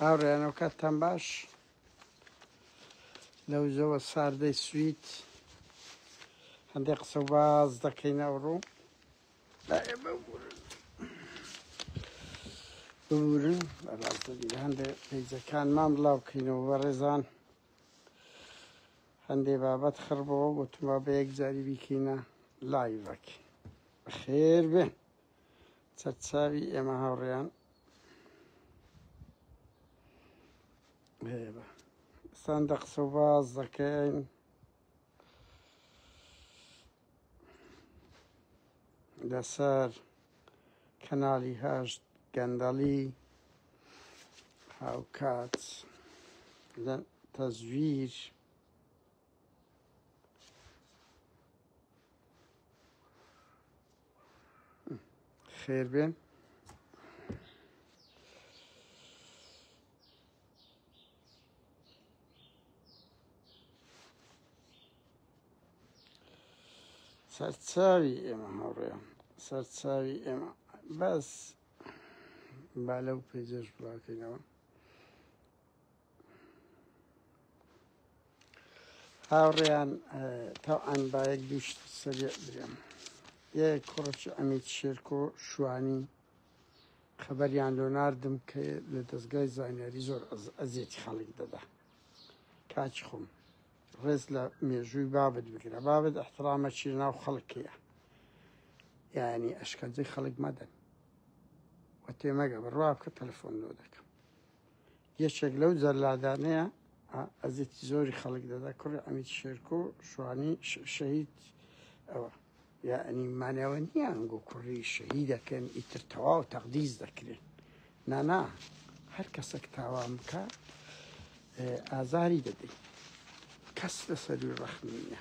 هاوڕێیانەوە کاتتان باش لەو زەوە ساردەی سویت هەندێک قسە باز دەکەین ئەوڕۆ ببورن هەندێک پیجەکانمان بڵاو بکەینەوە بە ڕێزان هەندێ بابەت خڕبەوە گوتمە بە یەک جاری بیکەینە لایڤەک خێر بێن سەرچاوی ئێمە هاوڕێیان هەیە سان دە قسە باز دەکەین لەسەر کەناڵی هەشت گەندەڵی هاوکات لە تەزویر خێر بێن سەرچاوی ئێمە هەڕێ سەرچاوی ئێمە بەس با لەو پێجەش بڵاکەینەوە هاوڕێیان تاعان بایەک دووشت سەرێ درێم یە کوڕچ ئەمیت شێرکۆ شوانی خەبەریان لۆ نردم کە لە دەستگای زانیاری زۆر ئەزیێتی خەڵک دەدا کاچ خۆم ڕێز لە مێژووی بابت بگرە بابت احترامە چی ناو خەڵکەیە یعنی ئەشکەنجەی خەڵک مەدەن وە تێمەگە بڕوا بکە تەلفۆن لۆ دەکەم یەکێک لەو جەلادانەیە ئەزێتی زۆری خەڵک دەدا کوڕی ئەمیت شێرکۆ شوانی شەهید ئەوە یعنی مانەوە نییە ئەنگۆ کوڕی شەهی دەکەن ئیتر تەواو تەقدیز دەکرێن نانا هەر کەسێک تاوان بکە ئازاری دەدەین کەس لەسەروی ڕەخنیە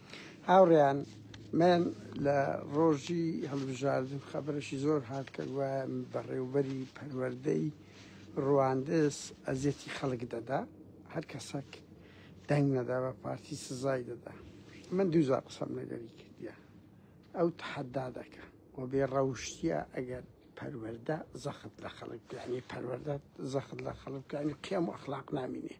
هاوڕێیان من لە ڕۆژی هەڵبژاردن خەبەرەشی زۆر هات کە گوایە بەڕێوبەری پەروەردەی ڕواندز ئەزیەتی خەڵک دەدا هەر کەسەک دەنگ نەدا بە پارتی سزای دەدا من دووزار قسەم لەگەری کردە ئەو تحەدا دەکە و بێ ڕەوشتە ئەگەر پەروەەردە زەخت لە خەڵک یعنی پەروەەردە زەخت لە خەڵک یعنی قێم و ئەخلاق نامینێ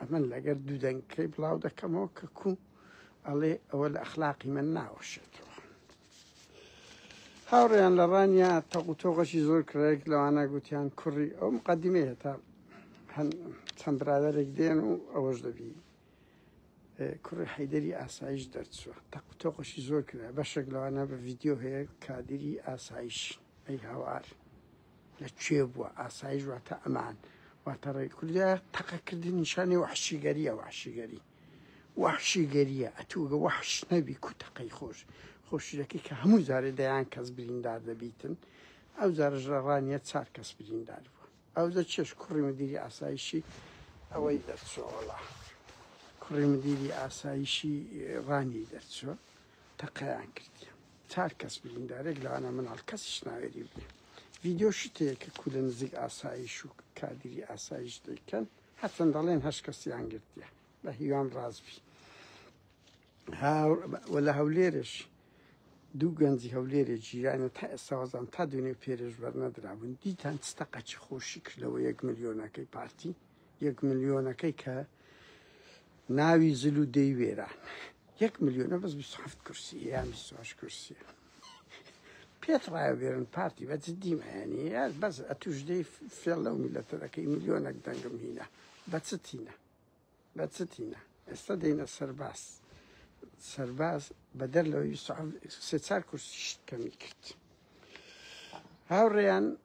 ئەمن لەگەر دوو دەنگکەی بڵاو دەکەمەوە کە کوو ئەڵێ ئەوە لە ئەخلاقی من ناوەشێتەوە هاوڕێیان لە ڕانیا تەقوتۆغەشی زۆر کرێک لەوانە گوتیان کوڕی ئەو مقدمێ هێتا چەند برادێک دێن و ئەوەش دەبی کوڕی حیدری ئاسایش دەرچوە تەقوتۆقشی زۆر کرا بەشێک لەوانە بە ڤیددیو هەیە کادری ئاسایش ئەی هاوار لە کوێ بووە ئاسایش واتە ئەمان واتە ڕێ کوردە تەقەکردن نیشانی وحشیگەریە وحشیگەری وحشیگەریە ئەتوگە وحش نەبی کو تەقەی خۆش خۆشیرەکەی کە هەموو جارێ دەیان کەس بریندار دەبیتن ئەو جارژ لە ڕانیە چار کەس بریندار بوو ئەو دە چێش کوڕی مدیری ئاسایشی ئەوەی دەرچۆڵە کوڕی مدیری ئاسایشی ڕانی دەرچوە تەقەیان کردیە چار کەس بریندارێک لەوانە مناڵ کەسیش ناوێری بێ ڤیددیو شتەیە کە کوولە نزیک ئاسایش و کادری ئاسایش دەیکەن هەچەند دەڵێن هەش کەسیان گرتیە بە هیوام ڕازبی لە هەولێرش دوو گەنجی هەولێرێ جیرانە تا ئێساوازان تا دوێنێ پێرێژ بەرنەدرابوون دیتان چتەقەچی خۆشی کردەوە یەک ملیۆنەکەی پارتی یەک ملیۆنەکەی کە ناوی زل و دەی وێران یەک ملیۆنە بەس هەفت کورسی یان بیستهشت کورسی پێت ڕایە بێرن پارتی بە جدیمەیانی بەس ئەتوش دەی فێڵ لەو میلەتە دەکەی ملیۆنەک دەنگم هینە بە چتینە بە چتینە ئێستا دەینە سەرباز سەرباز بەدەر لەوەی سێ چار کورسیشت کەمی کرد هاوڕێیان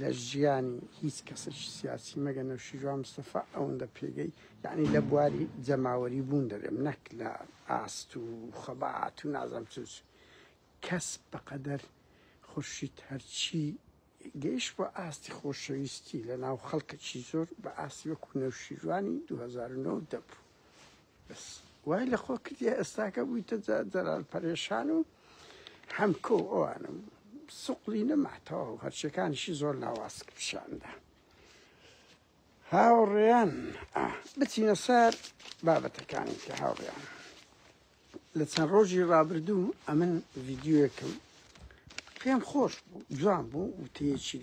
لە ژیانی هیچ کەسێکی سیاسی مەگە نەوشیروان مستەفا ئەوەندە پێگەی یانی لە بواری جەماوەری بوون دەرێم نەک لە ئاست و خەبات و نازم چ کەس بەقەدەر خورشید هەرچی گەیش بۆ ئاستی خۆشەویستی لە ناو خەڵکەکی زۆر بە ئاستی وەکو نەوشیروانی 2009 دەبوو بەس وای لە خۆ کردی ئێستاکە بوویتە جەلال پەرێشان و حەمکۆ ئەوانم سوقلی نەماتەوە و هەرچەکانیشی زۆر لاواز پیشاندا هاوڕێیان بچینە سەر بابەتەکانی کە هاوڕێیان لە چەند ڕۆژی ڕابردوو ئەمن ڤیددیوەکەم پێم خۆش بوو جوان بوو وتەیەکی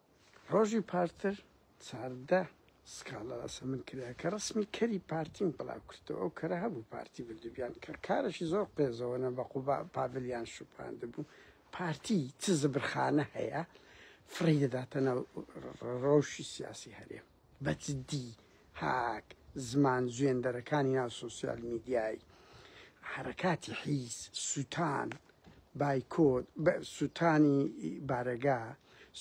ڕۆژی پارتر چاردە سکاڵا لەسەر من کرا کە ڕسمی کەری پارتیم بڵاو کردەوە ئەو کەرە هەبوو پارتی بردوبیان کە کارەشی زۆر قێزەوەە بە قوبا پاڤلیان شوپاند بوو پارتی چ زبرخانە هەیە فڕی دەداتە ناو ڕەوشی سیاسی هەرێم بە جدی هاک زمان زوێندەرەکانی ناو سۆسیال میدیای حەرەکاتی حیز سوتان بایکۆت سوتانی بارەگا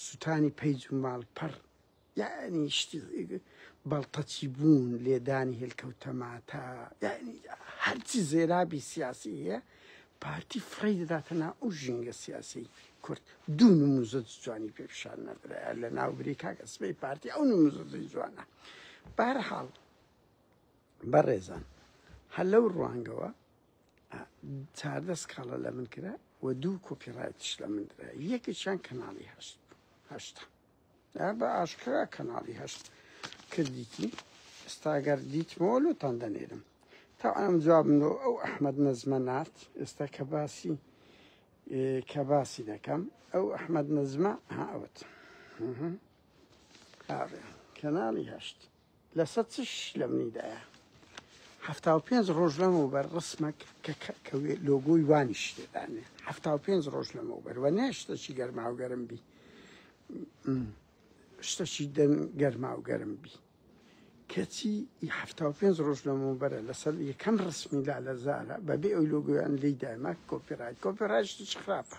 سوتانی پەیج و ماڵپەڕ یعنی شتی بەڵتەچی بوون لێدانی هێلکەوتەماتە یعنی هەرچی زێرابی سیاسی هەیە پارتی فڕێی دەداتە نا ئەو ژینگە سیاسی کورد دوو نموزە جوانی پێ پیشان نەدرایە لە ناوبری کاک ئەسبەی پارتی ئەو نموزەی جوانە بارحاڵ بەڕێزان هەر لەو ڕوانگەوە چاردە سکاڵە لە من کرا و دوو کۆپیڕایتش لە من درا یەکێکیان کەناڵی هەشت هەشتا ها بە ئاشکرا کەناڵی هەشت کردیتی ئێستاگەر دیتمەوە لۆتان دەنێرم تا ئەم جوابم لۆ ئەو ئەحمد نەزمە نارد ئێستا کە باسی کە باسی دەکەم ئەو ئەحمد نەزمە هاوت کەناڵی هەشت لەسە چش لە منی دایە حەفتا و پێنج ڕۆژ لەمەو بەر ڕسمەک کە لۆگۆی وانی شتێدانێ حەفتا و پێنج ڕۆژ لەمەو بەروە نێ شتەچی گەرماو گەرم بی شتەچی دەن گەرماو گەرم بی کەچی حەفتا و پێنج ڕۆژ لەمەو بەرە لەسەر یەکەم ڕسمی لا لە زارە بەبێ ئەو لۆگویان لی دایمە کۆپیرای کۆپیرای شتچ خراپە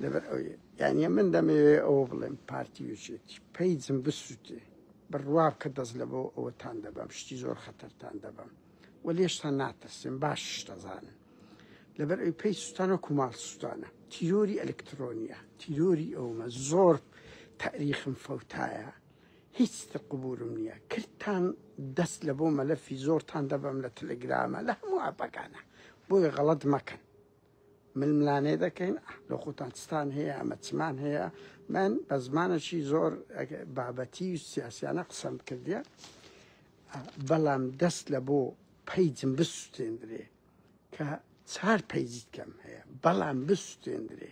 لەبەر ئەو یانە من دەمەوێ ئەوە بڵێم پارتی وچێتی پەیجم بسووتێ بڕوام کە دەست لەبۆ ئەوەتان دەبەم شتی زۆر خەتەرتان دەبەم و لێشتان ناترسێن باشش دەزانن لەبەر ئەوی پێی سوستانە و کوماڵ سوستانە تیرۆری ئەلکترۆنیە تیرۆری ئەومە زۆر تاریخم فەوتایە هیچ قبورم نییە کردتان دەست لە بۆ مەلەفی زۆرتان دەبەم لە تەلگرامە لە هەموو ئاپەکانە بۆیە غەڵت مەکەن ململانێ دەکەین لە خۆتان چتان هەیە ئەمە چمان هەیە من بە زمانەشی زۆر بابەتی و سیاسیانە قسەم کردە بەڵام دەست لە بۆ پیجم بسوستێندرێ کە چهار پیجیت کەم هەیە بەڵام بسوستێندرێ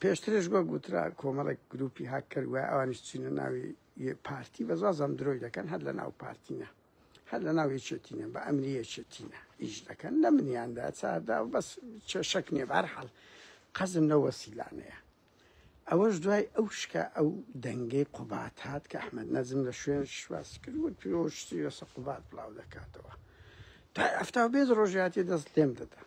پێشترش وەک گوترا کۆمەڵێک گروپی هاک کردوە ئەوانش چینە ناوی پارتی بەزازم درۆی دەکەن هەر لە ناو پارتینە هەر لە ناو یەکێتینە بە ئەمری یەکێتینە ئیش دەکەن لە منیاندا چاردا و بەس چێشەک نیە بارحاڵ قەزم لە وەسیلانەیە ئەوەش دوای ئەو شکە ئەو دەنگەی قوبات هات کە ئەحمد نەزم لە شوێن شواس کرد و پیرۆشتی لەسە قوبات بڵاو دەکاتەوە تا ئەفتا بێت ڕۆژاتی دەست لێم دەدەن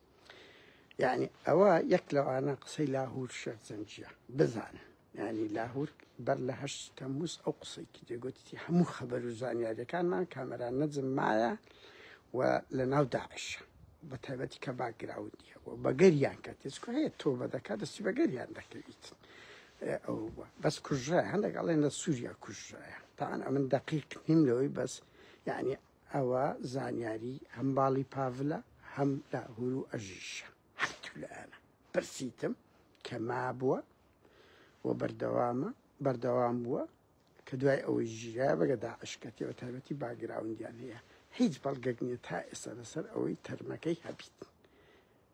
یعنی ئەوە یەک لەوانە قسەی لاهور شێخ زەنجیە بزانە ینی لاهور بەر لە هەش تەموس ئەو قسەیکی دەگوتی هەموو خەبەر و زانیاریەکانمان کامەران نەجم مایە و لە ناو داعشە بە تایبەتی کە باگراوندیە و بەگەریان کە تێسکو هەیە تۆ بە دەکات دەستی بەگەریان دەکەویت ئەو بەس کوژرای هەندێک ئەڵێن لە سووریا کوژرایە تاان ئەمن دقیق نیم لەوەی بەس یعنی ئەوە زانیاری هەم باڵی پاڤلە هەم لاهورو ئەژیشە هەتولئەنە پرسیتم کە مابوە و بەردەوامە بەردەوام بوە کە دوای ئەوەی ژیرایە بەگە داعش کەتێ بە تایبەتی باگراوندیان هەیە هیچ بەڵگەک نیە تا ئێستا لەسەر ئەوەی تەرمەکەی هەبیت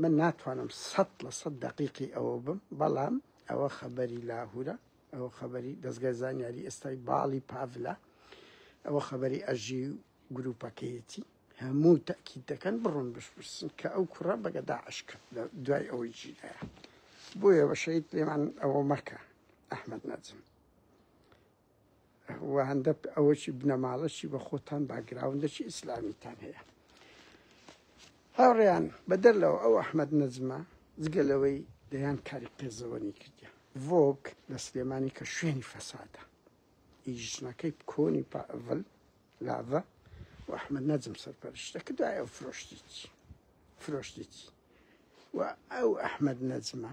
من ناتوانم سەد لە سەد دەقیقی ئەوە بم بەڵام ئەوە خەبەری لاهورە ئەوە خەبەری دەستگای زانیاری ئێستای باڵی پاڤلە ئەوە خەبەری ئەژی گروپەکەیەتی هەموو تاکی دەکەن بڕۆن بشپرسن کە ئەو کوڕە بەگە داعش کرد لە دوای ئەوەی جیدایە بۆیە بە شەید پێمان ئەوە مەکە ئەحمد نەجم وهەندەک ئەوەکی بنەماڵەکی بە خۆتان باگراوندەکی ئیسلامیتان هەیە هاوڕێیان بەدەر لەوە ئەو ئەحمد نەجمە جگە لەوەی دەیان کاری قێزەوەنی کردیان ڤۆک لە سلێمانی کە شوێنی فەسادە ئیژنەکەی کۆنی پاڤل لاڤە و ئەحمد نەجم سەرپەرشتە کە دوایە فرۆشتیی فرۆشتیی و ئەو ئەحمد نەجمە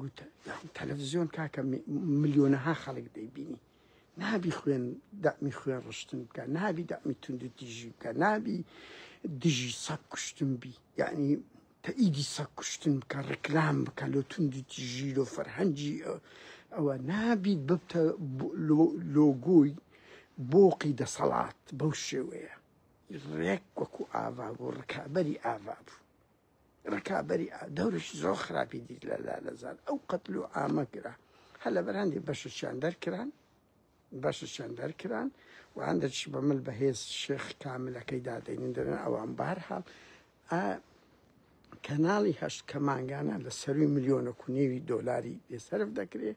گوت تەلەفزیۆن کاکە ملیۆنەها خەڵک دەیبینی نابی خوێن دەمی خوێن ڕشتن بکە نابی دەمی تونند و تیژی بکە نابی دژی سەک کوشتن بی یعنی تەئیدی سەک کوشتن بکە ڕکلام بکە لۆ تونند و تیژی لۆ فەرهەنجی ئەوە نابیت ببتە لۆگۆی بۆقی دەسەڵات بەو شێوەیە ڕێک وەکو ئاوا بوو ڕکابەری ئاوا بوو ڕکابەری دەورش زۆر خراپی دیت لە لالەزار ئەو قەتل و ئامە کرا هە لە بەرهندی بەشەچیان دەرکران بەشەچیان دەرکران و هەندێکش بە مل بەهێز شێخ کاملەکەی دادەنین دەرن ئەوان بار هەڵ کەناڵی هەشت کە مانگانە لە سەروی ملیۆنە کونێوی دۆلاری لێسەرف دەکرێت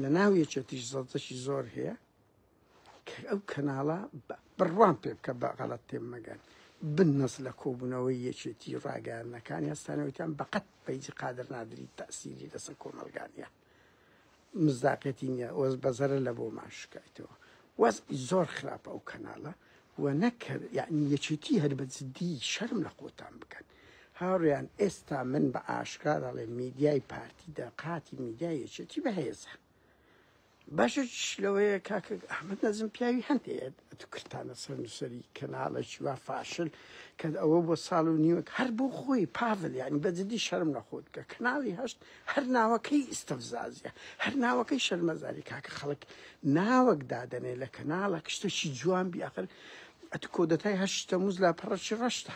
لە ناو یەکێتیش زەڵتەشی زۆر هەیە ئەو کەناڵە بڕوان پێ بکە بە غەڵەت تێم مەگەن بنەس لە کۆبوونەوەی یەکێتی ڕاگەیاندنەکانی هەستانەوەیان بەقەت پەیجی قادر نادری تاسیری لەسەر کۆمەلگانە مزداقەتی نیە وەز بەزەرە لە بۆ ماشکایتەوە وەز زۆر خراپە ئەو کەناڵە و نەکرد یعنی یەکێتی هەر بە جددی شەرم لە خۆتان بکەن هاوڕیان ئێستا من بە ئاشکرا دەڵێ میدیای پارتی دەقاتی میدیای یەکێتی بەهێزە باشە چش لەوەیە کاکە ئەحمد نەزم پیاوی هەندەیە ئەتو کرتانە سەر نووسری کەناڵێکی وا فاشل کە ئەوە بۆ ساڵ و نیوەک هەر بۆ خۆی پاڤل یعنی بەجددی شەرم نەخۆت کە کەناڵی هەشت هەر ناوەکەی ئیسستەفزازە هەر ناوەکەی شەرمەزاری کاکە خەڵک ناوەک دادەنێ لە کەناڵە کشتەشی جوان بیاخر ئەتو کۆدەتای هەشتە موز لا پەڕەشی ڕەشتە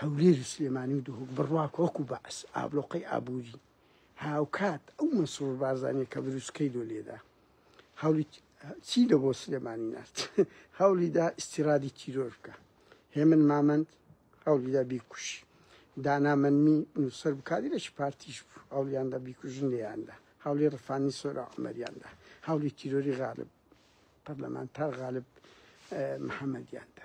هەولێر و سلێمانی و دهۆک بڕوا کە وەکو بەعس ئابلۆقەی ئابووری هاوکات ئەو مەسرور بارزانیە کە بروسکەی لۆ لێدا هەولی چی لە بۆ سلێمانی نارد هەولیدا ئیسیرادی تیرۆر بکە هێمن مامەند هەولیدا بیکوشی دانا منمی نووسەر بکاری لەش پارتیش بوو هەولیاندا بیکوژن لێیاندا هەولی ڕفانی سۆرا عمەریاندا هەولی تیرۆری غالب پەرلەمانتار غالب محەممەدیاندا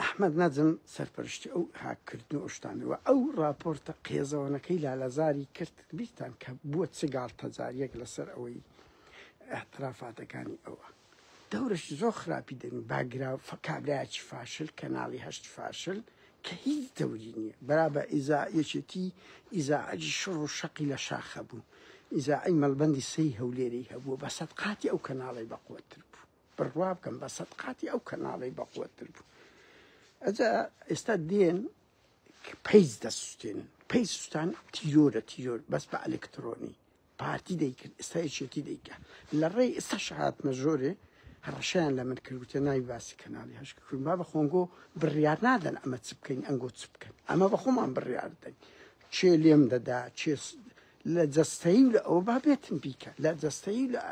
ئەحمەد نەجم سەرپەرشتی ئەو هاک کردن و ئەو شتانەی وە ئەو ڕاپۆرتە قێزەوەنەکەی لالەزاری کرد بیرتان کە بووە چ گاڵتەجاریەک لەسەر ئەوەی ئیعترافاتەکانی ئەوە دەورەشی زۆر خراپی دەنی باگراو فە کابرایەکی فاشل کەناڵی هەشت فاشل کە هیچ دەوری نییە برا بە ئیزا یەکێتی ئیزاعەجی شڕ و شەقی لە شاخە بوو ئیزاعی مەڵبەندی سەی هەولێری هەبوو بە سەد قاتی ئەو کەناڵی بەقوەتتر بوو بڕوا بکەم بە سەد قاتی ئەو کەناڵی بەقوتر بوو ئەجا ئێستا دێن پیس دەسوستێن پی سوستان تیۆرە تیۆر بەس بە ئەلکترۆنی پارتی دەیکرد ئێستا یەکێتی دەیکە لە ڕێ ئێستا شهاتمە زۆرێ هەڕەشیان لە من کردوتە ناوی باسی کەناڵی هەشک کردن با بە خۆنگۆ بڕیار نادەن ئەمە چ بکەین ئەنگۆ چ بکەن ئەمە بە خۆمان بڕیاردەین چێ لێم دەدا چێ لە جەستەیی و لە ئەوە با بێتم بیکە لە جەستەیی و لە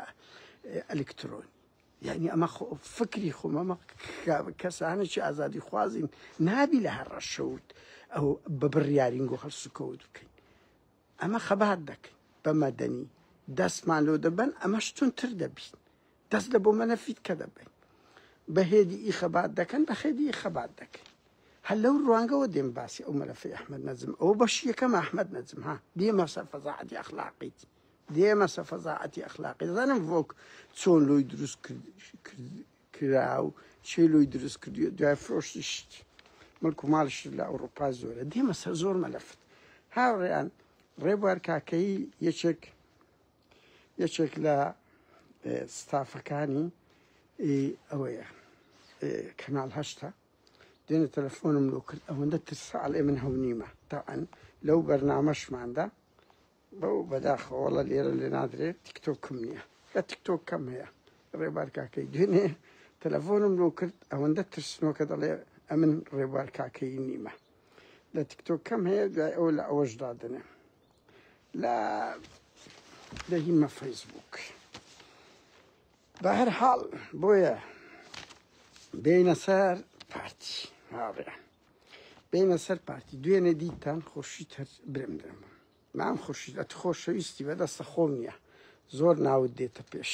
ئەلکترۆنی یعنی ئەمە فکری خۆمەمە کەسانێکی ئازادی خوازین نابی لە هەر ڕەشەوت ئەو بە بڕیارین گۆ هەڵسوکەوت بکەین ئەمە خەبات دەکەین بە مەدەنی دەستمان لۆ دەبەن ئەمەش تونتر دەبین دەست لە بۆ مەنە فیت کە دەبەین بە هێدی ئی خەبات دەکەن بە خێدی ئی خەبات دەکەین هەر لەو ڕوانگەوە دێم باسی ئەو مەلەفی ئەحمەد نەجم ئەو بەش یەکەم ئەحمەد نەجم ها دێمە سەر فەزاعەتی ئەخلاقیت دێمە سە فەزاعەتی ئەخلاقی دەزانم ڤۆک چۆن لۆی دروست کرا و چێ لۆی دروست کردی دوای فرۆشتی شتی ملک و ماڵش لە ئەوروپا زۆرە دێمە سەر زۆر مەلەفت هاوڕێیان ڕێبوار کاکەی یەکێک یەکێک لە ستافەکانی ئەوەیە کەناڵ هەشتە دێنە تەلەفۆنم لۆ کرد ئەوەندە ترسا ئەڵێ من هەونیمە تاعەن لەو بەرنامەشماندا بەو بەداخەوەڵە لێرە لێ نادرێت تیکتۆکم نییە لە تیکتۆک کەم هەیە ڕێبار کاکەی دوێنێ تەلەفۆنم لۆ کرد ئەوەندە ترسنۆکە دەڵێ ئەمن ڕێبار کاکەی نیمە لە تیکتۆک کەم هەیە دوای ئەو لە ئەوەش دادنێ لا دەهیمە فەیسبووک بە هەر حاڵ بۆیە بینە سەر پارتی هاڕێ بینە سەر پارتی دوێنێ دیتان خۆشی تەر برم درم مام خۆشی ئەت خۆشەویستی بەدەستە خۆم نییە زۆر ناوت دێتە پێش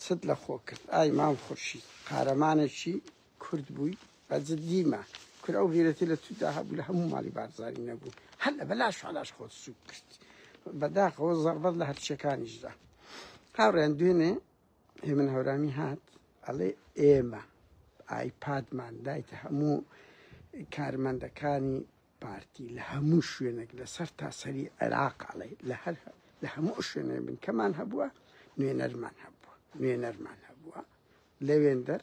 ست لە خۆ کرد ئای مام خۆشی قارەمانێکی کورد بووی بە جدی مە کور ئەو غیرەتی لە تودا هەبوو لە هەموو ماڵی بارزانی نەبوو هەر لە بەلاش علاش خۆت سوک کرد بەداخەوە زەڕبەت لە هەرچەکانیشدا هاوڕێن دوێنێ هێمن هەورامی هات ئەڵێ ئێمە ئایپادمان دایتە هەموو کارمەندەکانی پارتی لە هەموو شوێنێک لەسەر تاسەری عێراق ئەڵێ لە هەر لە هەموو شوێنێ بنکەمان هەبووە نوێنەرمان هەبووە نوێنەرمان هەبووە لەوێندەر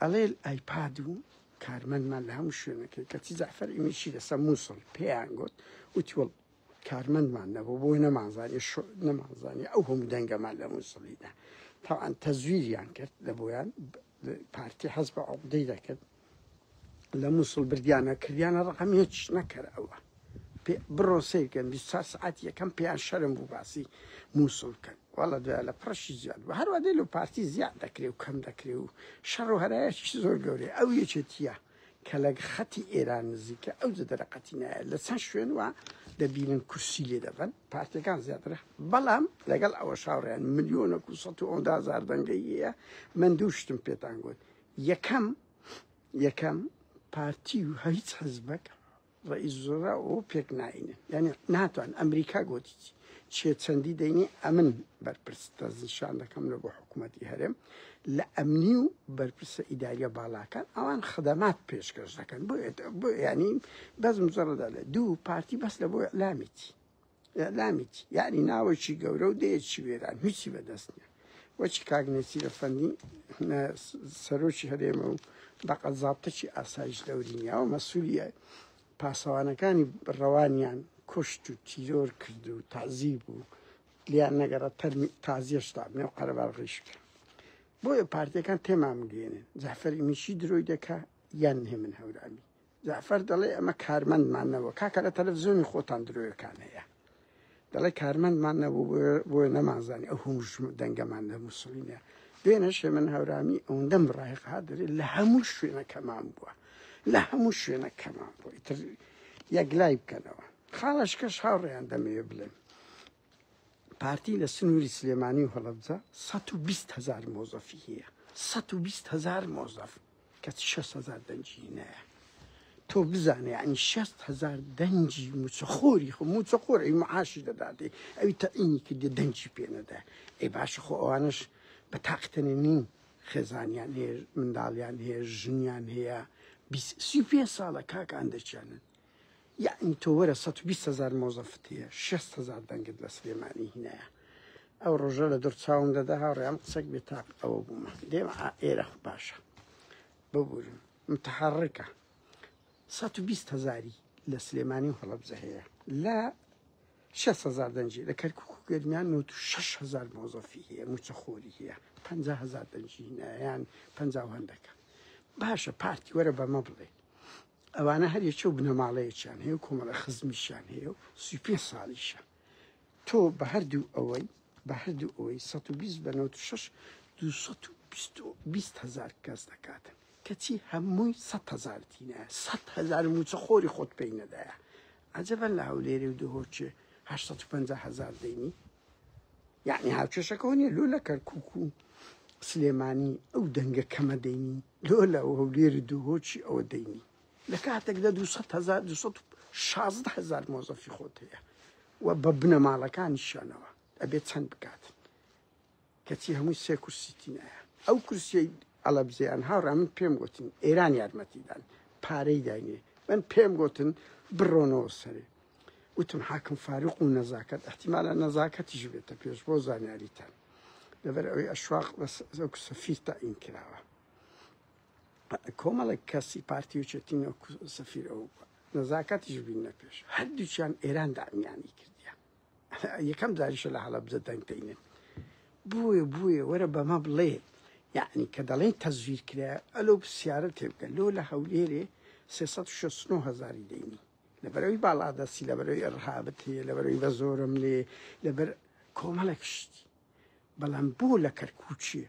ئەڵێ ئایپاد و کارمەندمان لە هەموو شوێنەکەی کەچی جەعفەر ئیمیشی لەسەر مووسڵ پێیان گوت وتی وەڵ کارمەندمان نەبوو بۆی نەمانزانانی شو نەمانزانانی ئەو هەموو دەنگەمان لە مووسڵیدا تاوان تەزویریان کرد لە بۆیان پارتی حەز بە عقدەی دەکرد لە مووسڵ بردیانە کردیانە ڕقم هیچ نەکەر ئەوە بڕۆن سەیر کەن بیست و چوار سەعاتی یەکەم پێیان شەرم بوو باسی موسڵ بکەن واڵڵە دوای لە پڕەشی زیاد بوو هەروا دێ لەو پارتی زیاد دەکرێ و کەم دەکرێ و شەڕ و هەرایەکی زۆر گەورەی ئەو یەکێتیە کە لە خەتی ئێران نزیکە ئەو جە دەرەقەتی نایە لە چەند شوێن وە دەبینن کورسی لێ دەبن پارتەکان زیاترە بەڵام لەگەڵ ئەوە شاوڕیان ملیۆنە کو سە و ئەودا زاردەنگەیە من دوو شتم پێتان گوت یەکەم یەکەم پارتی و هیچ حزبەکە ڕەئیس وزرا ئەوە پێک ناهینن یانی ناتوان ئەمریکا گوتی چێ چەندی دەینی ئەمن بەرپرس دەستنیشان دەکەم لە بۆ حکوومەتی هەرێم لە ئەمنی و بەرپرسە ئیداریە باڵاکان ئەوان خدەمات پێشکەش دەکەن بۆ بۆ ینی بەس مزڕدا لە دوو پارتی بەس لە بۆ ئەلامیتی ئیعلامی چی؟ یانی ناوەکی گەورە و دەیەکی وێران هیچی بەدەست نیە وەکی کاک نێچیرە فەندی سەرۆکی هەرێمە و بەقە زابتەکی ئاسایش دەوری نیە و مەسوولیە پاسەوانەکانی ڕەوانیان کوشت و تیرۆر کرد و تازیب و لیان نەگەڕە تەرمی تازیێشتا نێو قەرەبار ڕیش کرد بۆیە پارتەکان تێمامگەێنن جەفەری میشی درۆی دەکە یان هێمن هەورامی جەعفەر دەڵێ ئەمە کارمەندمان نەبووە، کاکە لە تەلەفزیۆنی خۆتان درۆیەکان هەیە، دەڵێ کارمەندمان نەبوو بۆیە نەمانزانی ئەو هەموو دەنگەمان لە مووسڵی نیە. دوێنێ شێمن هەورامی ئەوەندەم بڕای قات دەرێ لە هەموو شوێنەکەمان بووە، لە هەموو شوێنەکەمان بووە ئیتر یەکلای بکەنەوە. خاڵەشکەش هاوڕێیان دەمەوێ بڵێم پارتی لە سنووری سلێمانی و هەڵەبجە 120 هزار مۆزەفی هەیە 120 هزار مۆزەف کەچی شەست هەزار دەنگی نایە تۆ بزانێ عنی شەست هەزار دەنگی موچەخۆری خۆ موچەخۆری معاشی دەداتێ ئەوی تەعینی کردی دەنگی پێنەدا ئەی باش خۆ ئەوانش بە تاقتەنە نین خێزانیان هەیە منداڵیان هەیە ژنیان هەیە سی پێ ساڵە کاکان دەچێنن یەعنی تۆ وەرە سەد و بیست هەزار مۆزەفت هەیە شێست هەزار دەنگت لە سلێمانی هینایە ئەو ڕۆژە لە دوور چاوم دەدا هاوڕێم قسەک بێ تاق ئەوە بوومە دێم ئێرە خو باشە ببورن متحڕکە سەد و بیست هەزاری لە سلێمانی و هەڵەبزە هەیە لە شێست هەزار دەنجی لە کەرکک و گەرمیان نۆ و شش هەزار مۆزەفی هەیە موچەخۆری هەیە پ هزار دەنجی هینایان پ هەندەکە باشە پارتی وەرە بەمە بڵێ ئەوانە هەر یەکێو بنەماڵەیەکیان هەیە و کۆمەڵە خزمیشیان هەیە و سی پێ ساڵیشە تۆ بە هەردوو ئەوەی بە هەردوو ئەوەی 120 بە 96 220 هزار کەس دەکاتن کەچی هەمووی 100 هزار تینە 100 هزار موچە خۆری خۆت پێی نەدایە عجبە لە هەولێری و دهۆکێ 850 هزار دەینی یەعنی هاوکێشەکەەوە نیە لۆ لە کەرکک و سلێمانی ئەو دەنگە کەمە دەینی لۆ لە هەولێری دووهۆچی ئەوە دەینی لە کاتێکدا 216هزار مۆزەفی خۆت هەیە و بە بنەماڵەکانیشانەوە ئەبێت چەند بکات کەچی هەمووی سێ کورسی تینایە ئەو کورسیەی ئەلەبزیان هاوڕا من پێم گوتن ئێران یارمەتیدان پارەی داینێ من پێم گوتن بڕۆنەوە سەرێ وتم حاکم فاروق و نەزاکەت احتیمالە نەزاکەتیش بێتە پێش بۆ زانیاریتان لەبەر ئەوەی ئەشواق بەزەک سەفیر تاین کراوە کۆمەڵێک کەسی پارتی و چێتین و سەفیر ئەو نەزاکەتیش بینە پێش هەردووچیان ئێران دامیانی کردیان یەکەم جاریشە لە هەڵەبجە دەنگ دەینێت بۆیە بووێ وەرە بەمە بڵێ یعنی کە دەڵێن تەزویر کرا ئەلۆ پرسیارە تێبکە لۆ لە هەولێرێ 369 هزاری دەینی لەبەرەوەی باڵادەستی لەبەرەوەی ئەڕهابت هەیە لەبەرەوەی بە زۆرم لێ لەبەر کۆمەڵێک شتی بەڵام بۆ لە کەرکوچیە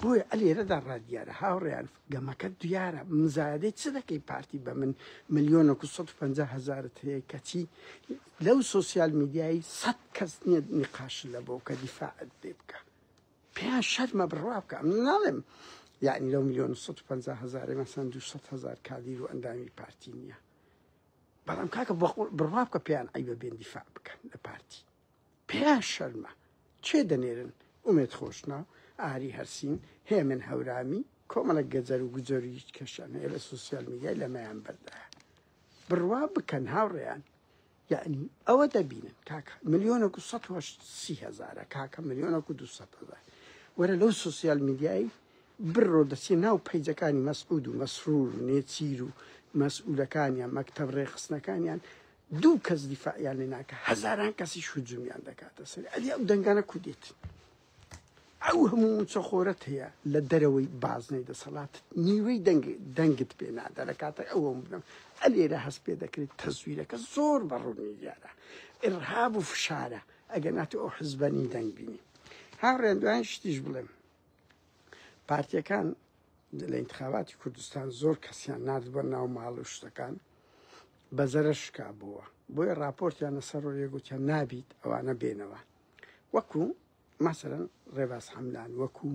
بۆیە ئەلێرەدا ڕادیارە هاوڕێیان گەمەکە دیارە مزایدەی چ دەکەی پارتی بە من ملیۆن 150 هزارت هەیە کەچی لەو سوسیال میدیایی سەد کەس نییە نقاش لە بۆ کە دیفاعت لێ بکە پێیان شەرمە بڕوا بکە من ناڵێم یعنی لەو ملیۆن 150 هزار مەسەن 200 هزار کادیر و ئەندامی پارتی نییە بەڵام کاکە بڕوا بکە پێیان ئەی بە بێن دیفاع بکەن لە پارتی پیا شەرمە کێ دەنێرن ئومێد خۆشناو ئاری هەرسین هێمن هەورامی کۆمەڵێک گەجەر و گوجەر و هیچ کەشیان هەیە لە سوسیال میدیای لەمەیان بەردایە بڕوا بکەن هاوڕێیان یعنی ئەوە دەبینن کاکە ملیۆنە و سە سی هزارە کاکە ملیۆنە و دو هزار وەرە لەو سوسیال میدیایی بڕۆ دەچێ ناو پەیجەکانی مەسعود و مەسرور و نێچیر و مەسئولەکانیان مەکتب ڕێخستنەکانیان دوو کەس دیفاعیان لێ ناکە هەزاران کەسیش هجومیان دەکاتە سەر ئەدی ئەو دەنگانە کودێت ئەو هەموو موچەخۆرەت هەیە لە دەرەوەی بازنەی دەسەڵات نیوەی دەنگ دەنگت پێ نادا لە کاتە ئەوەم بنم ئەلێرە هەست پێ دەکرێت تەزویرەکە زۆر بەڕوونی دیارە ئرهاب و فشارە ئەگەر ناتی ئەو حزبەنی دەنگ بینی هاوڕێن دوایان شتیش بڵێم پارتیەکان لە ئینتخاباتی کوردستان زۆر کەسیان نردبە ناو ماڵ و شتەکان بەزەرە شکا بووە بۆیە راپۆرتیان لەسەر ڕۆیە گوتیان نابیت ئەوانە بێنەوە وەکو مەسەرەن ڕێباز حەملان وەکو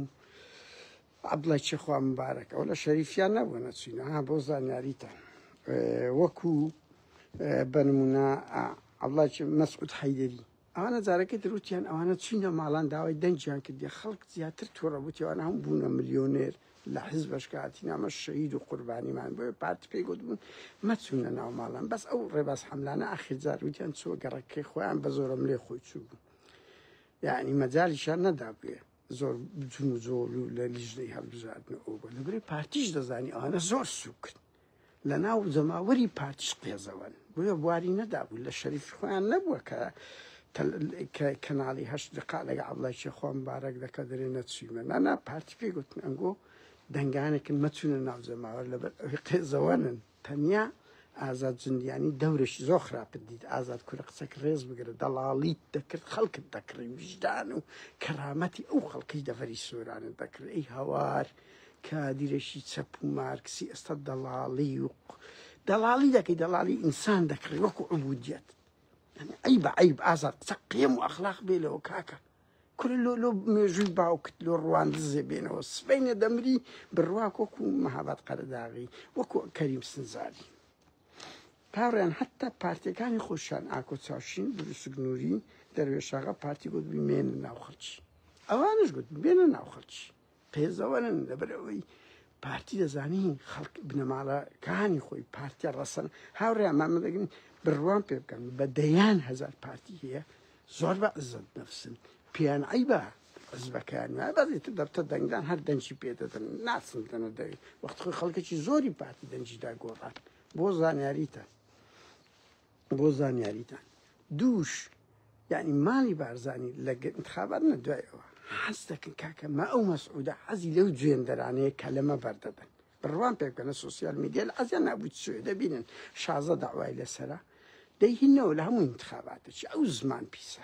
عبدڵی چێخوا مبارەک ئەو لە شەریفیان نەبوو نەچینە ها بۆ زانیاریتە وەکو بەنمونە عبڵی مەسعود حیدری ئەوانە جارەکی تر وتیان ئەوانە چوینە ماڵان داوای دەنگیان کردیە خەڵک زیاتر توڕە بوو تێوانە هەم بوونە ملیۆنێر لە حزبش کاتی نامە شەید و قوربانیمان بۆیە پارتی پێی گوتبوون مەچوونە ناو ماڵان بەس ئەو ڕێباز حملانە ئاخر جار وتیان چووە گەڕەکەی خۆیان بە زۆرم لێ خۆی چوو بوو یعنی مەجالیشان نەدابێ زۆر جون و جۆڵ و لە لیژنەی هەڵبژاردن ئەو بۆ لەبری پارتیش دەزانی ئەوانە زۆر سوکن لە ناو جەماوەری پارتیش قێزەوەن بۆیە بواری نەدابوو لە شەریفی خۆیان نەبووە کە کە کەناڵی هەشت دقا لەگە عبلایکی خۆم بارەک دەکە دەرێ نەچویمە نانا پارتی پێی گوتن ئەنگۆ دەنگانێکن مەچونە ناو جەماوەر لەبەر ئەوی قێزەوەنن تەنیا ئازاد جندیانی دەورەشی زۆر خراپت دیت ئازاد کورە قسەک ڕێز بگرە دەڵاڵیت دەکرد خەڵکت دەکڕی وژدان و کەرامەتی ئەو خەڵکی دەڤەری سۆرانت دەکرد ئەی هەوار کادیرێکی چەپ و مارکسی ئێستا دەڵاڵی و دەڵاڵی دەکەی دەڵاڵی ئینسان دەکڕی وەکو عبودیت ئەی بە عیب ئازاد قسە قێم و ئەخلاق بێ لەوە کاکە کورە لۆ لۆ مێژووی باوکت لۆ ڕوان دزێ بێنەوە سبینە دەمری بڕواک وەکو مەهابات قەرەداغی وەکو کەریم سنجاری تاڕیان هەتا پارتەکانی خۆشیان ئاکۆ چاوشین دروستگنووری دەروێشاغا پارتی گوت بمێنە ناو خەڵکی ئەوانش گوت بێنە ناو خەڵکی قێزەوەنن لەبەر ئەوەی پارتی دەزانی خەڵک بنەماڵەکانی خۆی پارتیە ڕەسەن هاوڕێ مامەدەگرن بڕوان پێ بکەن بە دەیان هزار پارتی هەیە زۆر بە عزت نفسن پێیان عیبە حزبەکان بەێت دەبتە دەنگدان هەر دەنجی پێدەدەن ناسن دەنە دەوێت وەخت خۆی خەڵکەکی زۆری پارتی دەنجیدا گۆڕات بۆ زانیاریتە بۆ زانیاریتان دووش یعنی ماڵی بارزانی لە انتخابات نە دوای ئەوە حەز دەکەن کاکە ما ئەو مەسعودە حەزی لەو جوێندەرانەیە کە لەمە بەردەدەن بڕوان پێ بکەنە سوسیال میدیە لە ئەزیان نابوویت سوێ دەبینن شازە داوای لەسرە دەیهینەوە لە هەموو انتخاباتێکی ئەو زمان پیسە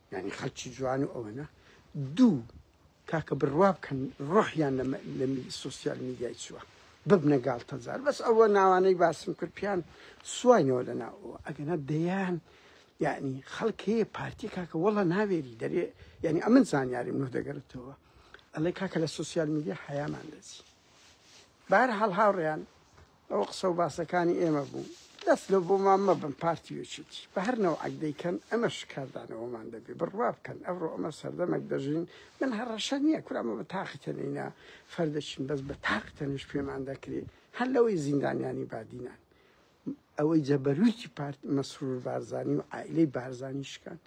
یانی خەلکی جوان و ئەوەنە دوو کاکە بڕوا بکەن ڕۆحیان لە لە سوسیال میدیای چووە ببنە گاڵتەجار بەس ئەوە ناوانەی باسم کرد پیان سواینەوە لە ناوەوە ئەگەنە دەیان یعنی خەڵکەیە پارتی کاکە وەڵە ناوێری دەرێ یعنی ئەمن زانیاریم نۆ دەگەرتەوە ئەڵێ کاکە لە سوسیال میدیا حەیامان دەچی بار هەڵ هاوڕێیان ئەوە قسەو باسەکانی ئێمە بوو. دەست لۆ بۆمان مەبەن پارتی وچیتی بەهەر نەوعەک دەیکەن ئەمە شکاردانەوەمان دەبێ بڕوا بکەن ئەڤڕۆ ئەمە سەردەمەک دەژین من هەڕەشە نیە کورە ئەمە بە تاقی تەنێینا فەر دەچین بەس بە تاقی تەنێش پێمان دەکرێ هەر لەوەی زیندانیانی بادینان ئەوەی جەبەرویکی پارت مەسرور بارزانی و عائلەی بارزانی شکان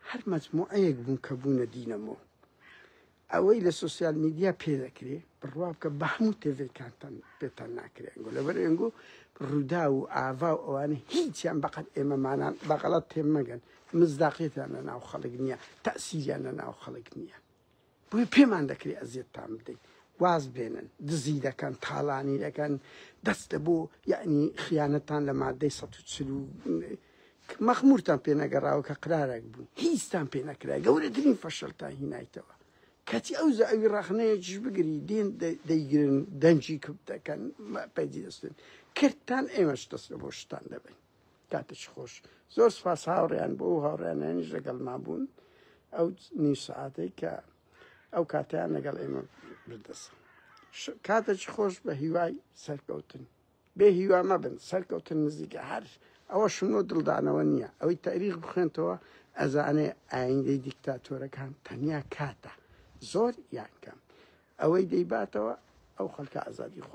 هەر مەجموعەیەک بوون کە بوونە دینەمۆ ئەوەی لە سۆسیال میدیا پێ دەکرێ بڕوا بکە بە هەموو تێڤەکانتان پێتان ناکرێ ئەنگۆ لەبەر ئەنگۆ ڕووداو و ئاڤا و ئەوانە هیچیان بەقەت ئێمەمانان بەغەڵەت تێم مەگەن مزداقیتان لە ناو خەڵک نییە تەسیریان لە ناو خەڵک نییە بۆی پێمان دەکرێ ئەزیێتتان بدەین واز بێنن دزی دەکەن تاڵانی دەکەن دەستە بۆ یعنی خیانەتان لە مادەی 1940 کە مەخمورتان پێ نەگەڕاوە کە قرارەک بوون هیچتان پێ نەکرا گەورەترین فەشەلتان هینایتەوە کاتی ئەو زەوی ڕەخنەیەکیش بگری دێن دەیگرن دەنگی کپ دەکەن پەیجی دەستن کردتان ئێمەش دەست بۆ شتان دەبین کاتێکی خۆش زۆر سپاس هاوڕیان بۆ و هاوڕیانیش لەگەڵما بوون ئەو نی سعاتەی کە ئەو کاتیان لەگەڵ ئێمە بردەسە کاتێکی خۆش بە هیوای سەرکەوتن بێ هیوا مەبن سەرکەوتن نزیکە هەر ئەوە شنۆ دڵدانەوە نییە ئەوەی تاریخ بخوێنتەوە ئەزانێ ئایندەی دیکتاتۆرەکان تەنیا کاتە زۆر یان کەم ئەوەی دەیباتەوە ئەو خەلکە ئازادی خۆ